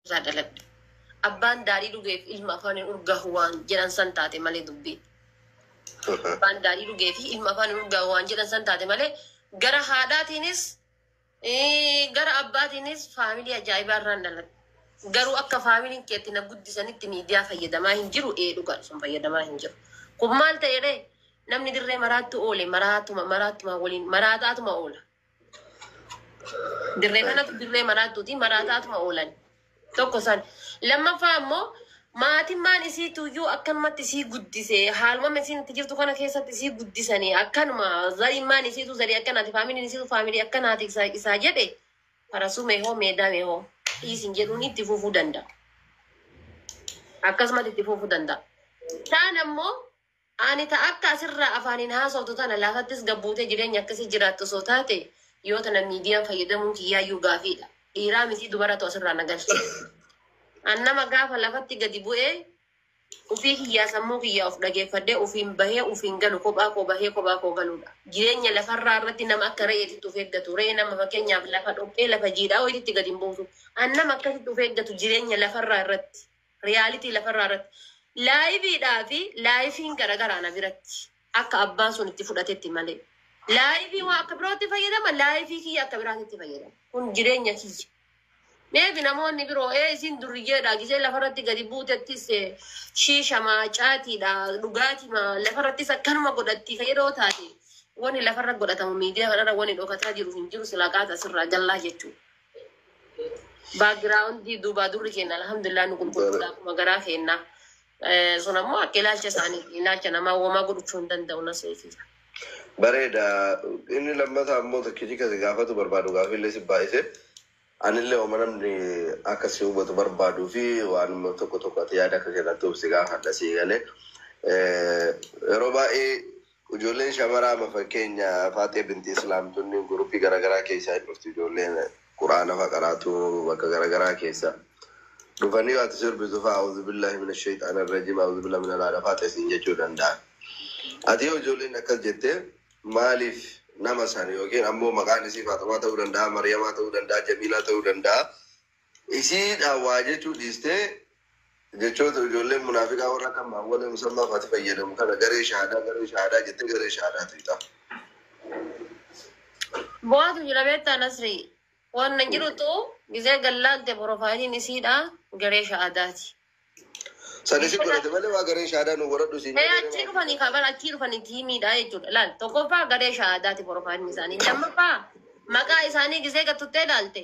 irraa dhaladhe. Abbaan daadhii dhugeef ilma afaan hin urgaahu waan jedhan san taate malee dubbiin. Abbaan daadhii dhugee fi ilma afaan hin urgaahu waan jedhan san taate malee gara haadhaatiinis eh, gara abbaatiinis faamilii ajaa'ibaa irraan dhaladhe. Garuu akka faamiliin keetti na guddisanitti miidiyaa fayyadamaa hin jiru ee dhugaa sun fayyadamaa hin jiru. Kun maal ta'e ree? Namni dirree maraattu oole maraattuma maraattuma waliin maraataatuma oola. Dirree kanatu dirree maraattuuti. Maraataatuma oolan. Tokko san. Lammaffaa ammoo maatimmaan isii tuyyuu akkanumatti isii guddise. Haalumama isiin itti jirtu kana keessatti isii guddisanii akkanuma zarimmaan isiitu zarii akkanaati faamiliin isiitu faamilii akkanaati isa, isaa jedhe farasuu meehoo meedaa meehoo dhiisin jedhuun itti fufuu danda'a. Akkasumatti itti fufuu danda'a. Taan ammoo Ani ta akka asirraa afaaniin haasoftu tana lafattis gad buutee jireenya akkasii jiraattu osoo taate yoo tana miidiyaan fayyadamuun kiyyaayyuu gaafiidha. Dhiiraa mitii dubaratu asirraa na galche. An nama gaafa lafatti gadi bu'ee ufii kiyyaa sammuu kiyyaa of dhageeffadhee ufiin bahee ufiin galu kophaa koo bahee kophaa koo galuudha. Jireenya lafarraa irratti nama akka re'eetitti of eeggatu. Re'een amma fakkeenyaaf lafa dhoqqee lafa jiidhaa wayititti gad hin buutu. An nama akkasitti of eeggatu jireenya lafarraa irratti. Reality lafarraa irratti. Live dhaa fi life'n garagaraa na biratti. Akka abbaan sun itti fudhatetti malee. Live waan akka birootti fayyadama, live kiyya akka biraatitti fayyadama. Kun jireenya kiyya. Maybe namoonni biroo ee isiin durriyyeedha gisee lafarratti gadi buutettis eh, shiishama, caatiidha, dhugaatima lafarrattis akkanuma godhatti ka yeroo taate wani lafarra godhatamu miidiyaa kanarra wani dhokataa jiru hin jiru silaa qaata sirraa jallaa jechuudha. Baagiraawundii duubaa durri keenya alhamdulillah nu qulqulluudha akkuma garaa keenya. Eh, Sun ammoo akka ilaalcha isaaniiti. Ilaalcha namaa wamaa godhachuu hin danda'u na seetii. Bareeda. Inni lammataa immoo tokkichi kasi gaafatu barbaadu gaaffiillee si baay'ise. Anillee oma namni akka si hubatu barbaaduu fi waan tokko tokko ati yaada akka kennattuuf si gaafadha si galee. Yeroo baay'ee Ujoolleen shamaraa ama fakkeenya Faaxiya binti Islaam tunniin group garagaraa keessaa hin dhufti ujoolleen Qur'aana fa qaraatu bakka garagaraa keessa dhufanii yoo ati sirbitu fa A'uzubillahi mina sheyxaani rajiim A'uzubillahi mina laala Faaxiya siin jechuu danda'an ati yoo ujoolleen akkas jette maaliif nama san yookiin ammoo maqaan isii Faaxumaa ta'uu danda'a Mariyamaa ta'uu danda'a Jamiilaa ta'uu danda'a Isii dhaan waa jechuu dhiistee jechoota ijoolleen munaafiqaa warra akka maawwalee musammaa faati fayyadamu kana garee shahaadaa garee shahaadaa jettee garee shahaadaa tuyxaa. Bu'aatu jira beektaa Nasrii. Wanna jirutu gizee gallaalte profaayiliin isiidha garee sha'adaati. Sani si godhate malee waa garee shahaadaa nu godhadhu siin Ee jedhee achii maaf dhufanii kaa bara achii dhufanii tiimiidha jechuudha. Laal tokkoffaa garee sha'adaati profaayiliin isaanii. Lammaffaa maqaa isaanii gizee gattuttee laalte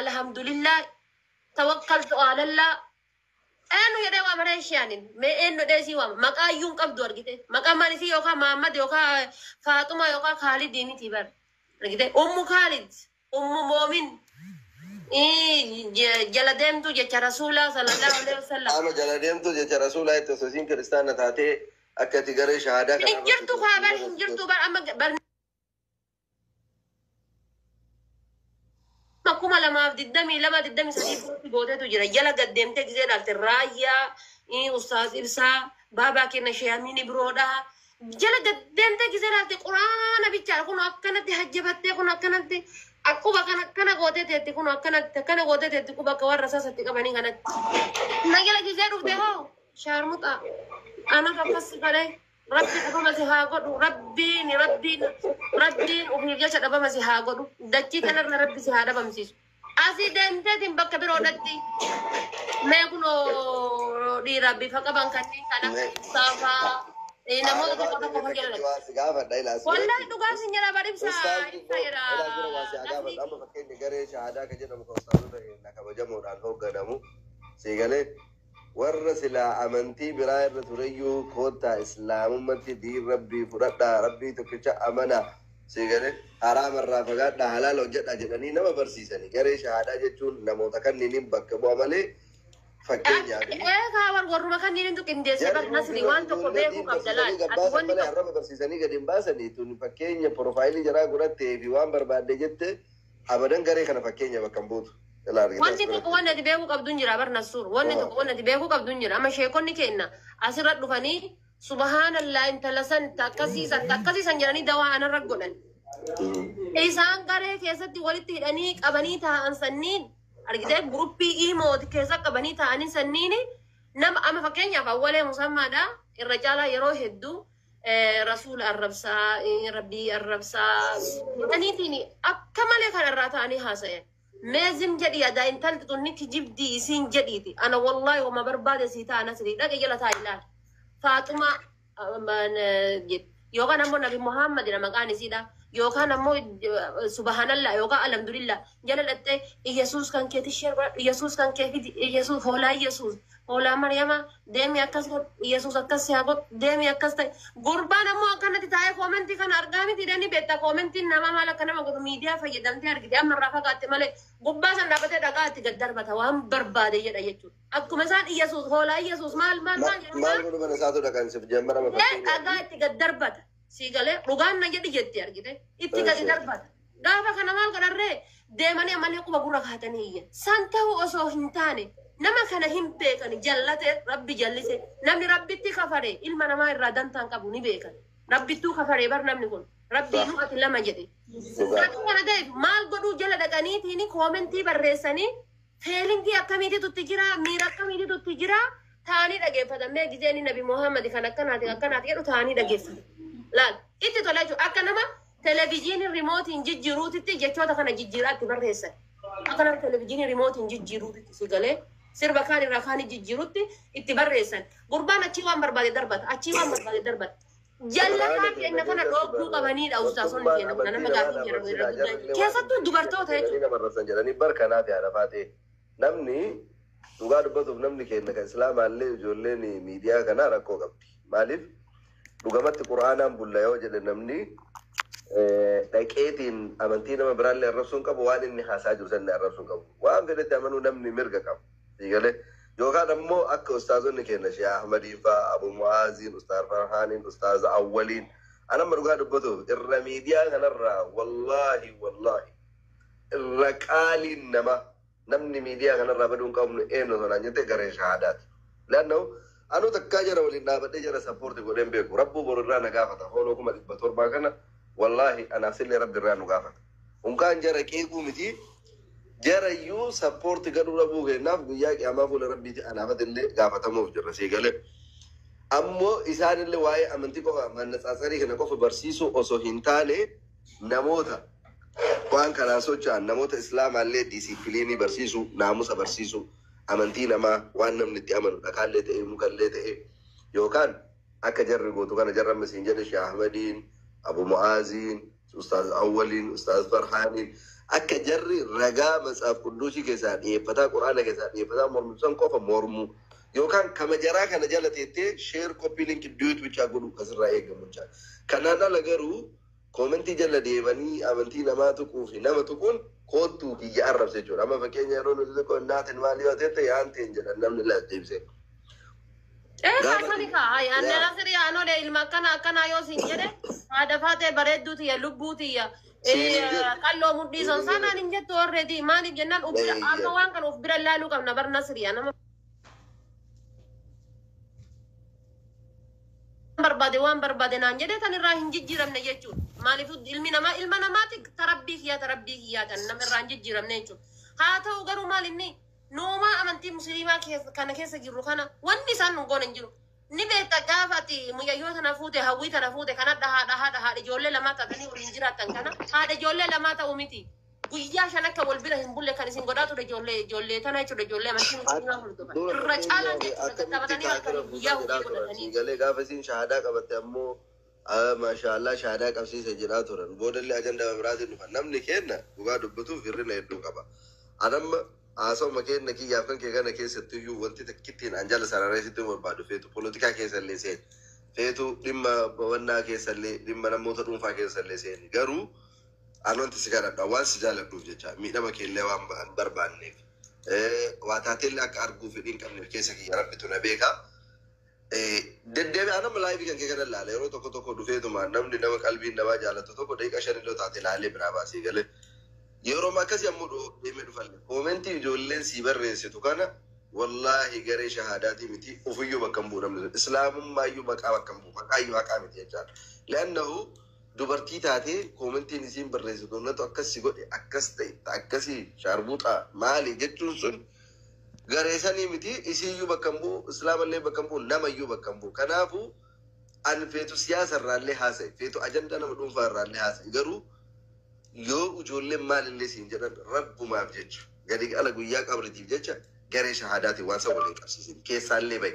Alhamdulillah tawakkaltu alalla Eennu jedhee waama ree ishee anin? Mee eennu jedhee isii waama? Maqaa iyyuu hin qabdu argite. Maqaa maan isii yookaan Maammad yookaan eh, Faaxumaa yookaan Kaalidii miti bar. Argite? Ummu Kaalid, Ummu Moomin, ii, je- jala deemtuu jecha Rasuulaa sallallahu alaihi wasallam. Ama jala deemtuu jecha Rasuulaa itti osoo isiin kiristaana taatee akka itti garee shahaadaa kana Hin jirtu kaa bar hin jirtu bar amma bar Amma kuma lamaaf digdamii lama digdamii sadii bootti gootetu jira. Jala gad deemtee gisee ilaalte raayyaa, ii, ustaaz ibsaa, baabaa kenna sheeyamiini biroodha. Jala gad deemtee gisee ilaalte quraana bichaadha. Kun akkanatti hajjabattee kun akkanatti quba kan akkana gootee teetti kun akkanatti akkana gootee teetti quba akka warra sasatti qabanii kanatti. Na jala gisee dhufte hoo shaarmuxaa. Anatu akkas si godhee. Rabbi dhufama si haa godhu rabbiin rabbiin rabbiin ufiif jecha dhabama si haa godhu dachii tanarra rabbi si haa dhabamsiisu asii deemteetiin bakka biroo dhatti mee kunoo dhiira bifa qaban kanneen kan akka ibsaafaa eh, namoota tokko tokko kan jedhan wallahi dhugaa sin jedha bar ibsa ibsa jedha namni amma fakkeenya garee shahaadaa kan jedhamu kan ustaazota keenya kabajamoodhaan hoogganamu siigalee Warra silaa amantii biraa irra tureyyuu koottaa islaamummatti diin rabbii fudhadhaa rabbii tokkicha amanaa sii galee haraama irraa fagaadhaa halaala hojjadhaa jedhanii nama barsiisani garee shahaadaa jechuun namoota kanniinin bakka bu'a malee fakkeenyaaf Ee kaa war warruma kanniinintu qindeessee bar jarri nasri waan tokko ijoollee beekuu diin qabda laal barsiisanii ati gabbaasan wanni malee tokko arraba barsiisanii gadi hin baasanii tun fakkeenya porofaayilii jaraa godhattee fi waan barbaadde jette Abadan garee kana fakkeenya bakka hin buutu. Ilaa argitee Wanni asirratti. tokko wanni ati beekuu qabdu hin jira bar Nassuur. Wanni Waa. tokko wanni ati beekuu qabdu hin jira. Amma sheekonni keenna asirra dhufanii subhaanallaa intala san ta akkasii san ta akkasii san jedhanii dawaa anarra godhan. Isaan garee keessatti walitti hidhanii qabanii taa'an sanniin argitee guruppii iimooti keessa qabanii taa'anii sanniin nama amma fakkeenyaaf awwalee musammaadha irra caalaa yeroo hedduu rasuula arrabsaa, rabbii arrabsaa jedhaniitiin akka malee kan irraa ta'anii haasa'an. Mee zim jedhi yadaa intalti tun ni kijibdii isiin jedhiiti. Ana wallaahi homa barbaade sii ta'a nasrii dhaqe jala ta'a ilaali. Faaxumaa jedhi. Yookaan ammoo Nabi Muhaammadidha maqaan isiidha. Yookaan ammoo subhanallah yookaan alhamdulillah jala dhaxxee Iyyasuus kan keeti sheer godhadhu Iyyasuus kan kee fidi Iyyasuus hoolaa Iyyasuus Hoolaa Maryamaa deemi akkas godhu Iyyasuus akkas si haa godhu deemi akkas ta'e gurbaan ammoo akkanatti taa'ee koomentii kana argaa miti dani beektaa koomentiin namaa maal akka nama godhu miidiyaa fayyadamtee argite amma irraa fagaatte malee gubbaa san dhaabatee dhagaa itti gad darbata waan barbaade jedha jechuudha akkuma isaan Iyyasuus hoolaa Iyyasuus maal maal maal jedhu Maal godhu mana isaatu dhaqan sif jammara Ee, dhagaa itti gad darbata sii galee dhugaan na jedhi jetti argite itti gadi Eessi. darbata Gaafa kana maal godhan ree? Deemanii ammallee quba gurra kaatanii iyyan. San ta'uu osoo hin taane nama kana hin beekani jallate rabbi jallise namni rabbitti kafare ilma namaa irraa dantaa hin qabu ni beekan. Rabbittuu kafaree bar namni kun rabbiinuu ati lama jedhe. Dhugaa. Sababa kana ta'eef maal godhuu jala dhaqaniitiin koomentii barreessanii feelingii akkamiititu itti jira miira akkamiititu itti jira taa'anii dhageeffatan mee gizeen nabi Muhammad kan akkanaati akkanaati jedhu taa'anii dhageeffatan. Laal itti tola jechuudha akka nama Televijiinii rimootiin jijjiiruutitti jechoota kana jijjiiraa itti barreessan. Akkanaan televijiinii rimootiin jijjiiruutitti si galee sirba kaan irraa kaanii jijjiirutti itti barreessan. Gurbaan achii waan barbaade darbata, achii waan barbaade darbata. Jallataa keenya kana dhoogduu qabaniidha ustaasonni keenya kun nama gaafii jedhamu irra guddaa. Keessattuu dubartoota jechuudha. Nama arrabsan jedhanii bar kanaaf yaa lafaa ta'e. Namni dhugaa dubbatuuf namni keenya kan islaamaallee ijoolleen miidiyaa kanaa rakkoo qabdi. Maaliif? Dhugamatti qur'aanaan bulla yoo jedhe namni dhaqeetiin amantii nama biraallee arrabsuu hin qabu waan inni haasaa jiru sanni arrabsuu hin qabu. Waan fedhetti amanuu namni mirga qaba. Siigalee yookaan ammoo akka ustaazonni keenya Shee Ahmadiin fa'aa Abu Mu'aaziin, Ustaaz Farhaaniin, Ustaaz Awwaliin an amma dhugaa dubbatuuf irra miidiyaa kanarraa wallaahi wallaahi irra qaaliin nama namni miidiyaa kanarraa baduu hin qabnu eenyu osoo naan jette garee shahaadaati. Laannahu anuu takkaa jara waliin dhaabadhee jara sappoorti godhee hin beeku. Rabbuu boru irraa na gaafata. Fooloo kuma dhibba torbaa kana wallaahi anaaf sillee rabbi irraa nu gaafata. Unkaan jara qeequu miti jara iyyuu sappoorti gadhuu dhabuu keenyaaf guyyaa qiyaamaa fuula rabbiiti anaafati illee gaafatamuuf jirra sii galee. Ammoo isaan illee waa'ee amantii qofa mannatsaasarii kana qofa barsiisuu osoo hin taane Namoota waan kanaan socho'an namoota Islaamaa illee diisiippiliinii barsiisuu, naamusa barsiisuu, amantii namaa waan namni itti amanu dhakaa illee ta'ee muka illee ta'ee yookaan akka jarri gootu kana jarri amma siin jedhe Sheikh Ahmadiin, Abu Mu'aaziin, Ustaaz Awwaliin, Ustaaz Farhaaniin akka jarri ragaa Matsaaf Qudduusii keessaa dhiyeeffataa Qur'aana keessaa dhiyeeffataa mormitu san qofa mormuu yookaan kama jaraa kana jala teettee share copy link duet bichaa godhuu ka sirraa eegamu jechaadha. Kanaan ala garuu Comment jalla deemanii amantii namaa tuquu fi nama tuquun koottuu kiyya arrabsa jechuudha. Amma fakkeenya yeroo nuti tokko naatin maal yoo tette yaanteen jedhan namni laas deebisee. Ee Gaafa- kaasani kaa hayi anne Yaa. asirii anole ilma akkana akkanaa yoo siin jedhe haadha faatee bareedduu tiyya lubbuu tiyya Siin hin jedhu. qalloo mudhii san Siin hin sanaan jedhu. hin jettu orreedii maaliif jennaan of bira Ee, amma yaa. waan kana of bira laaluu qabna barna siriyaa nama barbaade waan barbaade naan jedhee tan irraa hin jijjiiramne jechuudha. Maaliif ilmi namaa ilma namaati tarabbii kiyyaa tarabbii kiyyaa tan nama irraa hin jijjiiramne jechuudha. Haa ta'u garuu maal inni noomaa amantii musliimaa keessa- kana keessa jirru kana wanni isaan nu goone hin jiru. Ni beekta gaafa ati mucayyoo tana fuute hawwii tana fuute kanadha haadha haadha haadha ijoollee lamaa taatanii waliin jiraattan kana haadha ijoollee lamaa ta'u miti. guyyaa shan akka wal bira hin bulle kan isin godhaa ture ijoollee ijoollee tana jechuudha ijoollee amantii musliimaa hordofan Dura irra tokko caalaan ilaalee jechuudha akkamitti tattafatanii kaafira halkanii buusaa guyyaa jedhaa hojii turan. godhatanii Siigalee gaafa isiin shahaadaa qabatte ammoo "Ah, maashaallah shahaadaa qabsiise jedhaa turan. Boodallee ajandaa biraatiin dhufan. Namni keenna dhugaa dubbatuuf hirrina hedduu qaba. Anamma haasawuma keenna kiyyaaf kan kee kana keessattuu iyyuu wanti takkittiin an jala sararee sitti hin barbaadu feetu polotikaa keessallee seeni. Feetu dhimma bawannaa keessallee dhimma namoota dhuunfaa keessallee seeni. Garuu Ani wanti si kadhadha waan si jaaladhuuf jecha miidhama keellee waan ba- hin barbaanneef eh, waa taateellee akka arguu fedhii hin qabneef keessa kiyya rabbitu na beeka. Eh, Deddeebi'aa nama laayivii kan kee kana ilaala yeroo tokko tokko dhufeetuma namni nama qalbiin namaa jaalatu tokko daqiiqa shan illee taate ilaalee biraa baasee galee yeroo akkasii ammoo dhoo- deemee dhufalle koomentii ijoolleen sii barreessitu kana wallaahi garee shahaadaatii miti ofiyyuu bakka hin bu'u namni sun. islaamummaa iyyuu maqaa bakka hin bu'u maqaa iyyuu haqaa miti jechaan le'annahu Dubartii taatee koomentiin isiin barreessitu natu akkas si godhe akkas ta'etta akkasii shaarbuuxaa maali jechuun sun garee sanii miti isiiyyuu bakka hin bu'u islaamallee bakka hin bu'u namayyuu bakka hin bu'u kanaafu an feetu siyaasa irraallee haasa'i feetu ajandaa nama dhuunfaa irraallee haasa'i garuu yoo ijoolleen maalillee siin jedhan rabbumaaf jecha gadi ala guyyaa qabritiif jecha garee shahaadaatiin waan san waliin qabsiisin keessaallee ba'i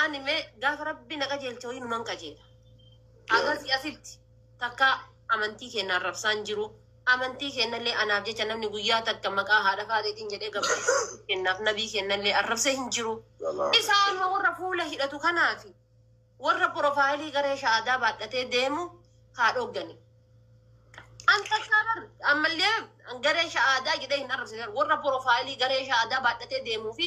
Ani me gaafa rabbi na qajeelche hoyi numan qajeela. Agasi asitti takka amantii keenya arrabsaan jiru. Amantii keenyallee anaaf jecha namni guyyaa takka maqaa haadha faaxeetiin jedhee gabaa keenyaaf nabii keenyallee arrabsee hin jiru. Isaa amma warra fuula hidhatu kanaafi warra porofaayilii garee sha'aadaa baadhatee deemu haa dhooggani. An takkaa bar ammallee garee sha'aadaa jedhee hin arrabsine warra porofaayilii garee sha'aadaa baadhatee deemuu fi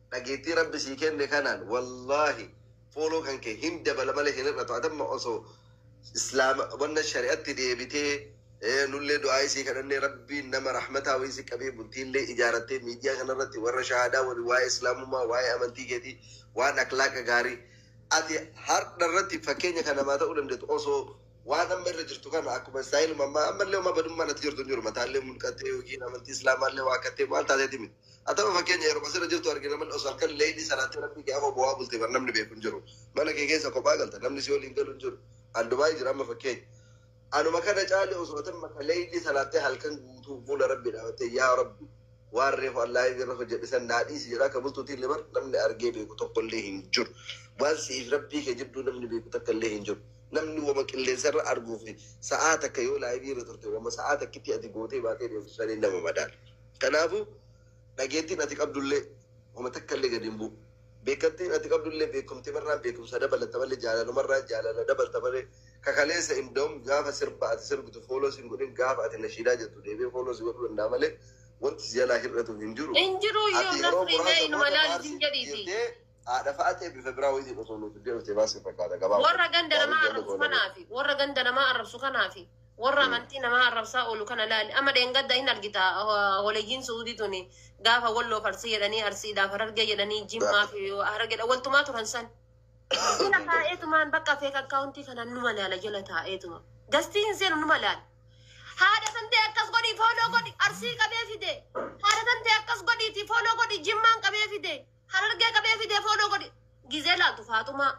Dhageettii rabbi sii kenne kanaan wallahi follow kan kee hin dabala malee hin hir'atu adamma osoo islaama wanna shari'atti deebitee ee, nullee du'aa isii kadhannee rabbiin nama rahmataa wayii si qabee bultiillee ijaarattee miidiyaa kanarratti warra shahaadaa waliin waa'ee islaamummaa waa'ee amantii keetii waan aklaaqa gaarii ati hardha irratti fakkeenya kan namaa ta'uu dandeetu osoo waan amma irra jirtu kana akkuma istaayiluma ammaa ammallee uma badummaan ati jirtu hin jiru mataallee mulqattee yookiin amantii islaamaallee waa kattee waan taateeti miti. Atama fakkeenya yeruma sirra jirtu arge namni osoo halkan leeylii salaatee rabbii kee afoo bowaa bulte bar namni beeku hin jiru. Mana kee keessa kophaa galta namni si waliin galu hin jiru. An Dubaay jira amma fakkeenya. Anuma kana caale osoo atan maka leeylii salaattee halkan guutuu fuula rabbii dhaabattee yaa rabbi waan reefu allaa irra hojjedhe san naa dhiisi jedha akka bultuutiin illee bar namni argee beeku tokko illee hin jiru. Waan siif rabbii kee jidduu namni beeku takka illee hin jiru. Namni wama qilleensa irra arguu fi sa'aa takka yoo laayivii irra turte wama sa'aa takkitti ati gootee baatee deemtu saniin nama madaala. Kanaafuu, dhageettiin ati qabdullee homa takkallee gad hin bu'u. Beekkamtiin ati qabdullee beekkumtimarraan beekkumsa dabalatta malee jaalalumarraan jaalala dabalta malee ka kaleessa indawum gaafa sirba ati sirbitu fooloo sin godhin gaafa ati nashiidaa jettu deebi'ee fooloo si godhuu danda'a malee wanti si jalaa hir'atu hin jiru. Hin jiruu Ati iyyuu yeroo nafri mee muraasa inuma booda laalu hin faarsiif jedhiitii. jettee Haadha fa'a ta'e bifa biraa wayitiin osoo nuuf iddee dhuftee maal sin fakkaata gabaa warra ganda namaa Baay'ee arrabsu jaallatoo namaa. kanaafi warra ganda namaa arrabsu kanaafi warra amantii namaa arrabsaa oolu kana laali amma dheengadda hin argita ah, waleyyiin suudii tuni gaafa walloof arsii jedhanii arsiidhaaf harargee jedhanii jimmaa fi harargeedha waltumaa turan san jala taa'eetumaan bakka feek akkaawuntii kanaan numa laala jala taa'eetuma gastii hin seenu numa laala haadha tantee akkas godhii fooloo godhi arsii qabee fide haadha tantee akkas godhiiti fooloo godhi jimmaan qabee fide Harargee qabee fidee fooloo godhi. Gizee laaltu Faaxumaa,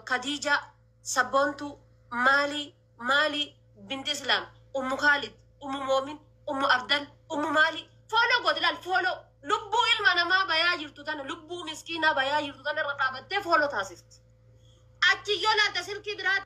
Kadiijaa, Sabboontuu, Maalii, Maalii, Binti Islaam, Ummu Kaalid, Ummu Moomin, Ummu Abdal, Ummu Maalii. Fooloo gooti laal fooloo. Lubbuu ilma namaa bayaa jirtu tana lubbuu miskiinaa bayaa jirtu tana irra dhaabattee fooloo taasifti. Achi yoo laalta silkii biraa